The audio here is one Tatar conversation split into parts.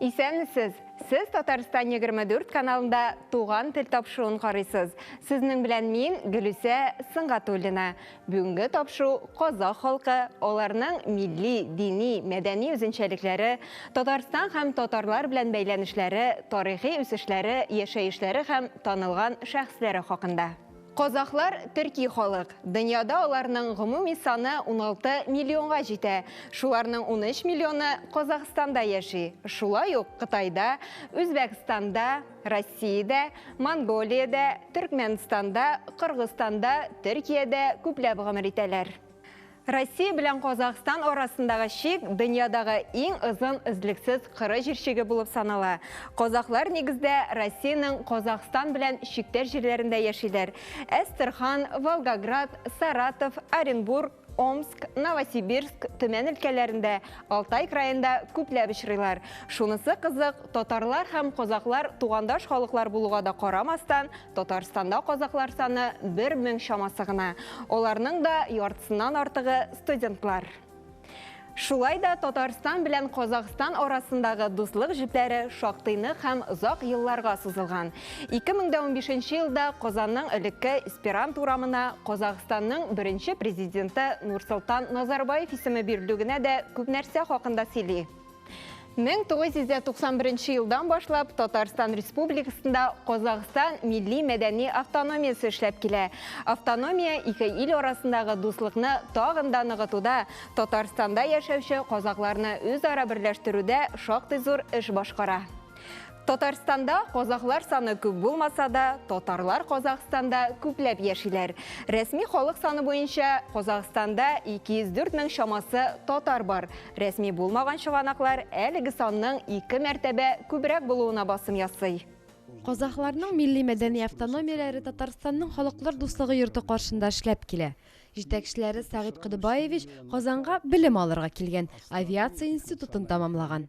Исәнмесез! Сез Татарстан 24 каналында Туган тел тапшыуын карыйсыз. Сезнең белән мин, Гөлүсә Сынгатуллина. Бүгенге тапшыу казах халкы, аларның милли, дини, мәдәни үзенчәлекләре, Татарстан һәм татарлар белән бәйләнешләре, тарихи үсешләре, яшәешләре һәм танылган шәхесләре хакында. Казахлар, төрки халык. Дөньяда аларның гомуми саны 16 миллионга җитә. Шуларның 13 миллионы Казахстанда яши. Шулай ук Кытайда, Үзбәкстанда, Россиядә, Монголиядә, Төркмәнстанда, Кыргызстанда, Төркиядә күпләп гомер итәләр. Россия белән Казахстан арасындагы чик дөньядагы иң озын өзлексез кыры җир чиге булып санала. Казахлар нигездә Россиянең Казахстан белән чиктәш җирләрендә яшиләр. Әстерхан, Волгоград, Саратов, Оренбург, Омск, Новосибирск, Төмән өлкәләрендә, Алтай краенда күпләп очрыйлар. Шунысы кызык, татарлар һәм казахлар тугандаш халыклар булуга да карамастан, Татарстанда казаклар саны 1000 чамасы гына. Аларның да яртысыннан артыгы студентлар. Шулай да Татарстан белән Казахстан арасындагы дуслык җепләре шактыйны һәм озак елларга сузылган. 2015 елда Казанның элекке Эсперант урамына Казахстанның беренче президенты Нурсултан Назарбаев исеме бирелүгенә дә күп нәрсә хакында сөйли. 1991 нче елдан башлап Татарстан Республикасында Казахстан милли мәдәни автономиясе эшләп килә. Автономия ике ил арасындагы дуслыкны тагын да ныгытуда, Татарстанда яшәүче казакларны үзара берләштерүдә шактый зур эш башкара. Татарстанда казахлар саны күп булмаса да, татарлар Казахстанда күпләп яшиләр. Рәсми халык саны буенча Казахстанда 204 мең чамасы татар бар. Рәсми булмаган чыганаклар әлеге санның ике мәртәбә күбрәк булуына басым ясый. Казахларның милли-мәдәни автономияләре Татарстанның халыклар дуслыгы йорты каршында эшләп килә. Җитәкчеләре Сәгыйть Кодыбаевич Казанга белем алырга килгән, авиация институтын тәмамлаган.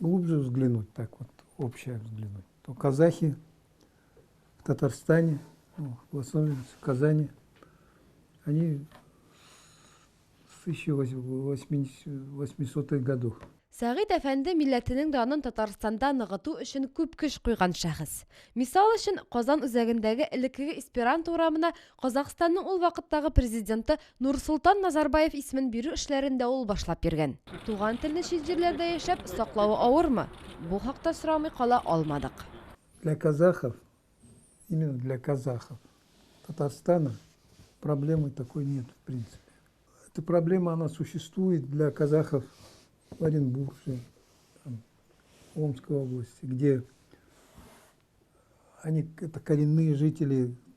глубже взглянуть, так вот, общее взглянуть, то казахи в Татарстане, ну, в Лос-Анджелесе, в Казани, они с 1800-х годов Сәгыйд әфәнде милләтенең данын Татарстанда ныгыту өчен күп көч куйган шәхес. Мисал өчен, Казан үзәгендәге элеккеге Эсперанто урамына Казахстанның ул вакыттагы президенты Нурсолтан Назарбаев исемен бирү эшләрен дә ул башлап йөргән. Туган телне чит җирләрдә яшәп, саклавы авырмы? Бу хакта сорамый кала алмадык. Для казахов, именно для казахов, Татарстана проблемы такой нет в принципе. Эта проблема, она существует для казахов в Оренбурге, там, Омской области, где они, это коренные жители,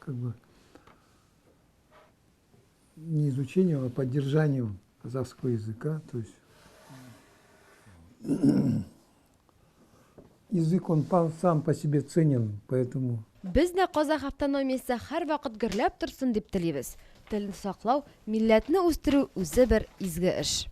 как бы не изучению, а поддержанию казахского языка. То есть язык, он сам по себе ценен, поэтому... Без дә казах автономиясе һәр вакыт гөрләп торсын дип телибез. Телне саклау, милләтне үстерү үзе бер изге эш.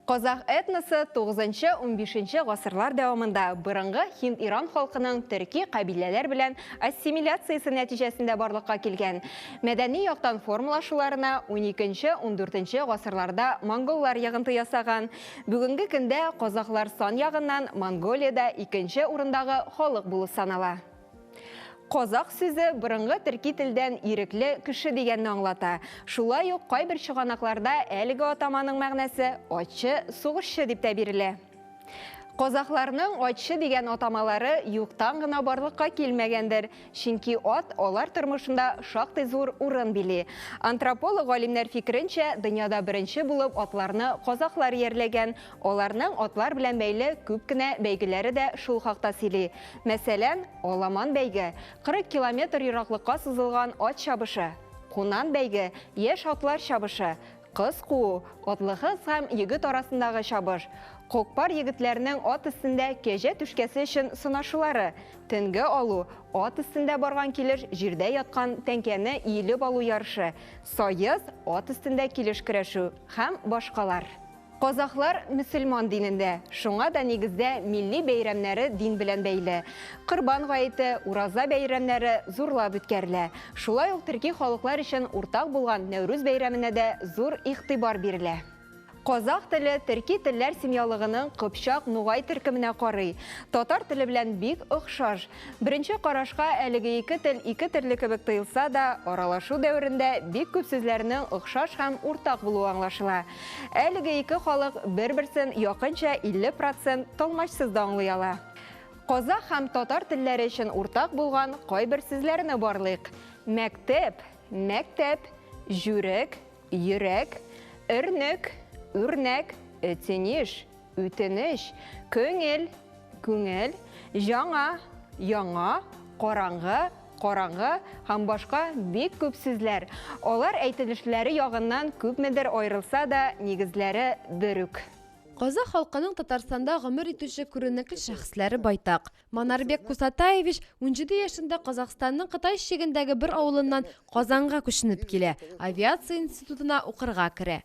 Казах этносы 9-15 гасырлар дәвамында борынгы һинд-иран халкының төрки кабиләләр белән ассимиляциясе нәтиҗәсендә барлыкка килгән. Мәдәни яктан формалашуларына 12-14 гасырларда монголлар ягынты ясаган. Бүгенге көндә казахлар сан ягыннан Монголиядә икенче урындагы халык булып санала. Казах сүзе борынгы төрки телдән ирекле кеше дигәнне аңлата. Шулай ук кайбер чыганакларда әлеге атаманың мәгънәсе атчы, сугышчы дип тә бирелә. Казахларның атчы дигән атамалары юктан гына барлыкка килмәгәндер, чөнки ат алар тормышында шактый зур урын били. Антрополог галимнәр фикеренчә, дөньяда беренче булып атларны казахлар иярләгән, Аларның атлар белән бәйле күп кенә бәйгеләре дә шул хакта сөйли. Мәсәлән, аламан бәйге, 40 километр ераклыкка сузылган ат чабышы, кунан бәйге, яшь атлар чабышы, кыз куу, атлы кыз һәм егет арасындагы чабыш, кокпар егетләрнең ат өстендә кәҗә түшкәсе өчен сынашулары, тенге алу, ат өстендә барган килеш җирдә яткан тәңкәне иелеп алу ярышы, саез, ат өстендә килеш көрәшү һәм башкалар. Казахлар мөселман динендә, шуңа да нигездә милли бәйрәмнәре дин белән бәйле. Корбан гаете, Ураза бәйрәмнәре зурлап үткәрелә. Шулай ук төрки халыклар өчен уртак булган Нәүрүз бәйрәменә дә зур игътибар бирелә. Казах теле төрки телләр семьялыгының кыпчак-нугай төркеменә карый. Татар теле белән бик охшаш. Беренче карашка әлеге ике тел ике төрле кебек тоелса да, аралашу дәверендә бик күп сүзләрнең охшаш һәм уртак булуы аңлашыла. Әлеге ике халык бер-берсен якынча 50 процент талмачсыз да аңлый ала. Казах һәм татар телләре өчен уртак булган кайбер сүзләрне барлыйк. Мәктеп, мәктәп, җүрек, йөрәк, өрнек, үрнәк, өтенеш, Үтенеч, көңел, күңел, җаңа, яңа, караңгы, караңгы һәм башка бик күп сүзләр. Алар әйтелешләре ягыннан күпмедер аерылса да, нигезләре бер үк. Казах халкының Татарстанда гомер итүче күренекле шәхесләре байтак. Манарбек Кусатаевич унҗиде яшендә Казахстанның Кытай чигендәге бер авылыннан Казанга күченеп килә, авиация институтына укырга керә.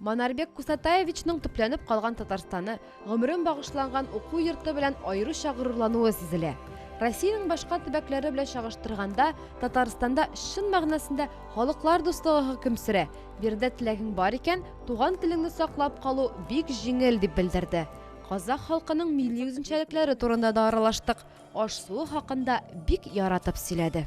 Манарбек Кусатаевичның төпләнеп калган Татарстаны, гомерен багышланган уку йорты белән аеруча горурлануы сизелә. Россиянең башка төбәкләре белән чагыштырганда, Татарстанда чын мәгънәсендә халыклар дуслыгы хөкем сөрә. Биредә теләгең бар икән, туган телеңне саклап калу бик җиңел, дип белдерде. Казах халкының милли үзенчәлекләре турында да аралаштык. Аш-суы хакында бик яратып сөйләде.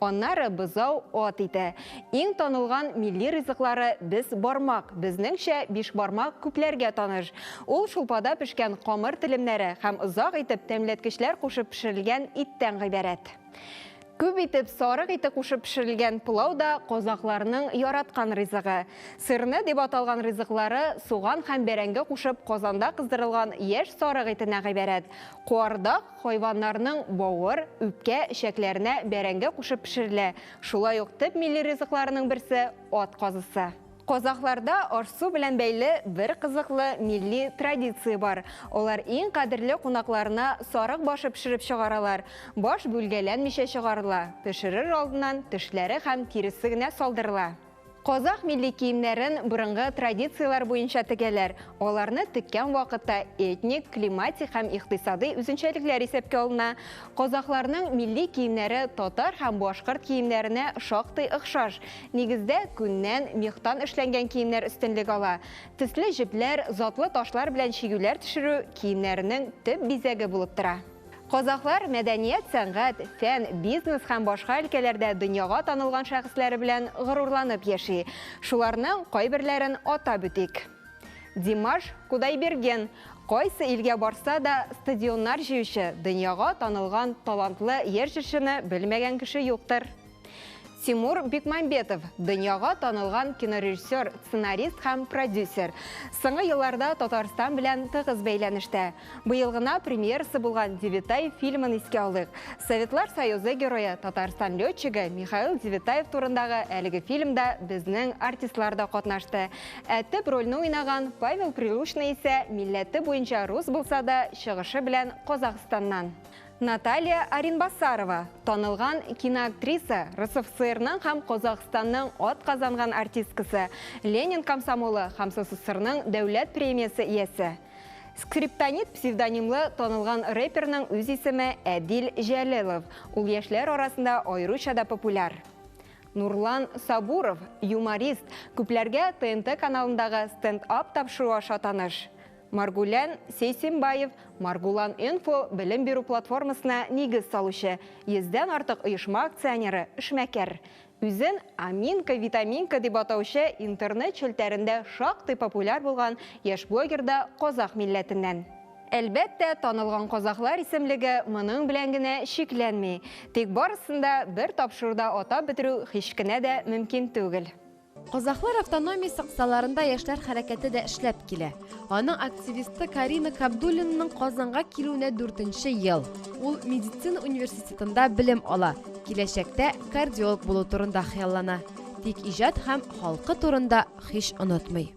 Аннары бозау ат ите. Иң танылган милли ризыклары без бармак, безнеңчә бишбармак күпләргә таныш. Ул шулпада пешкән камыр телемнәре һәм озак итеп тәмләткечләр кушып пешерелгән иттән гыйбарәт. Күп итеп сарык ите кушып пешерелгән пылау да казакъларның яраткан ризыгы. Сырны дип аталган ризыклары суган һәм бәрәңге кушып казанда кыздырылган яшь сарык итенә гыйбарәт. Куардак, хайваннарның бавыр, үпкә, эчәкләренә бәрәңге кушып пешерелә. Шулай ук төп милли ризыкларының берсе, ат казысы. Казахларда аш-су белән бәйле бер кызыклы милли традиция бар. Алар иң кадерле кунакларына сарык башы пешереп чыгаралар. Баш бүлгәләнмичә чыгарыла, пешерер алдыннан тешләре һәм тиресе генә салдырыла. Казах милли киемнәрен борынгы традицияләр буенча тегәләр. Аларны теккән вакытта этник, климатик һәм икътисадый үзенчәлекләр исәпкә алына. Казахларның милли киемнәре татар һәм башкорт киемнәренә шактый охшаш. Нигездә күннән, мехтан эшләнгән киемнәр өстенлек ала. Төсле җепләр, затлы ташлар белән чигүләр төшерү киемнәренең төп бизәге булып тора. Казахлар мәдәният, сәнгать, фән, бизнес һәм башка өлкәләрдә дөньяга танылган шәхесләре белән горурланып яши. Шуларның кайберләрен атап үтик. Димаш Кудайберген, кайсы илгә барса да стадионнар җыючы, дөньяга танылган талантлы яшь җырчыны белмәгән кеше юктыр. Тимур Бекмамбетов, дөньяга танылган кинорежиссер, сценарист һәм продюсер. Соңгы елларда Татарстан белән тыгыз бәйләнештә. Быел гына премьерасы булган Девитай фильмын искә алыйк. Советлар Союзы герое, Татарстан летчигы Михаил Девитаев турындагы әлеге фильмда безнең артистлар да катнашты. Ә төп рольне уйнаган Павел Прилучный исә милләте буенча рус булса да, чыгышы белән Казахстаннан. Наталья Аринбасарова, танылган киноактриса, РСФСРның һәм Казахстанның ат казанган артисткасы, Ленин комсомолы һәм СССРның дәүләт премиясе иясе. Скриптонит псевдонимлы танылган рэперның үз исеме Әдил Җәлелов, ул яшьләр арасында аеруча да популяр. Нурлан Сабуров, юморист, күпләргә ТНТ каналындагы стенд-ап тапшыруы аша таныш. Маргулян Сейсембаев, Маргулан-инфо белем бирү платформасына нигез салучы, йөздән артык оешма акционеры, эшмәкәр. Үзен Аминка-Витаминка дип атаучы интернет челтәрендә шактый популяр булган яшь блогер да казах милләтеннән. Әлбәттә, танылган казахлар исемлеге моның белән генә чикләнми. Тик барысын да бер тапшыруда атап бетерү һич кенә дә мөмкин түгел. Казахлар автономиясе кысаларында яшьләр хәрәкәте дә эшләп килә. Аның активисты Карина Кабдуллинаның Казанга килүенә дүртенче ел. Ул медицина университетында белем ала, киләчәктә кардиолог булу турында хыяллана. Тик иҗат һәм халкы турында һич онытмый.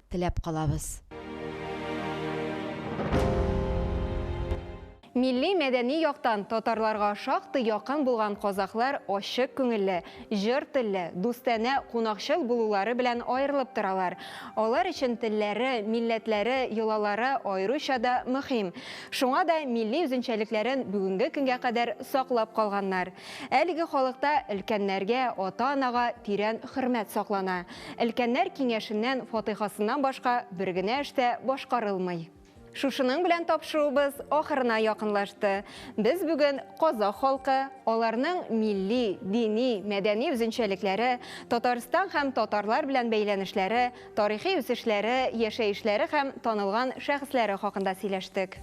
теләп калабыз. Милли-мәдәни яктан татарларга шактый якын булган казахлар ачык күңелле, җыр телле, дустанә, кунакчыл булулары белән аерылып торалар. Алар өчен телләре, милләтләре, йолалары аеруча да мөһим. Шуңа да милли үзенчәлекләрен бүгенге көнгә кадәр саклап калганнар. Әлеге халыкта өлкәннәргә, ата-анага тирән хөрмәт саклана. Өлкәннәр киңәшеннән фатыйхасыннан башка бер генә эш тә башкарылмый. Шушының белән тапшыруыбыз ахырына якынлашты. Без бүген казах халкы, аларның милли, дини, мәдәни үзенчәлекләре, Татарстан һәм татарлар белән бәйләнешләре, тарихи үсешләре, яшәешләре һәм танылган шәхесләре хакында сөйләштек.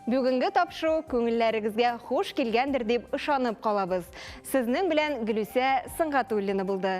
Бүгенге тапшыру күңелләрегезгә хуш килгәндер дип ышанып калабыз. Сезнең белән Гөлүсә Сөнгатуллина булды.